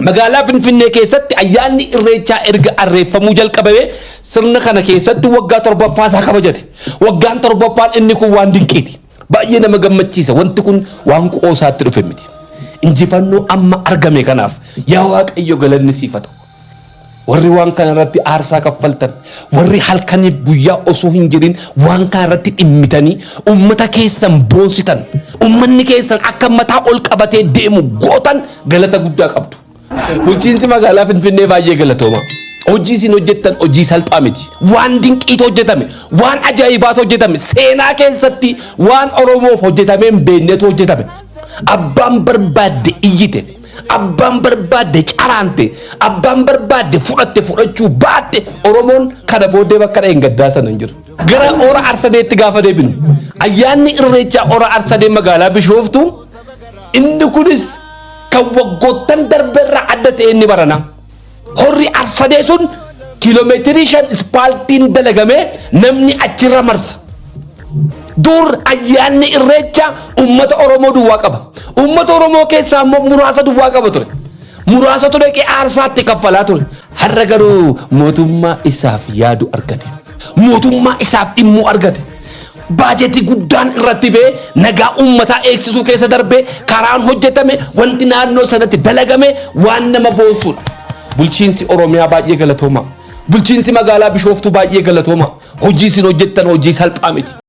Magaalaa Finfinnee keessatti ayyaanni Irreechaa erga arreeffamuu jalqabamee sirna kana keessatti waggaa torbaffaa isaa kabajate. Waggaan torbaffaan inni kun waan dinqiiti. Baay'ee nama gammachiisa. Wanti kun waan qoosaatti dhufe miti. Injifannoo amma argame kanaaf yaa Waaqayyo galanni siif haa ta'u. Warri waan kana irratti aarsaa kaffaltan, warri halkaniif guyyaa osoo hin jedhin waan kana irratti dhimmitanii ummata keessan boonsitan, ummanni keessan akka mataa ol qabatee deemu gootan galata guddaa qabdu. Bulchiinsi magaalaa Finfinnee baay'ee galatoomaa. Hojii isin hojjettan hojii salphaa miti. Waan dinqiitu hojjetame, waan ajaa'ibaatu hojjetame, seenaa keessatti waan Oromoof hojjetamee hin beeknetu hojjetame. Abbaan barbaadde iyyite. Abbaan barbaadde caraante, abbaan barbaadde fudhatte fudhachuu baatte Oromoon kana booddee bakka dha'een gaddaa sana hin jiru. Gara Hora Arsadeetti gaafa deebinu ayyaanni irreechaa Hora Arsadee magaalaa Bishooftuu inni kunis kan waggoottan darberraa adda ta'e inni baranaa. Horri arsadee sun kiiloomeetirii shan ispaaltiin dalagamee namni achirra marsa. Dur ayyaanni irreecha uummata Oromoo duwwaa qaba. Uummata Oromoo keessaa immoo muraasa duwwaa qaba ture. Muraasa ture qee aarsaatti kaffalaa ture. Har'a garuu mootummaa isaaf yaadu argate. Mootummaa isaaf dhimmuu argate. Baajetii guddaan irratti ba'ee nagaa uummataa eegsisuu keessa darbee karaan hojjetame wanti naannoo sanatti dalagame waan nama boonsuudha. Bulchiinsi Oromiyaa baay'ee galatooma. Bulchiinsi magaalaa Bishooftuu baay'ee galatooma. Hojii isin hojjettan hojii salphaa miti.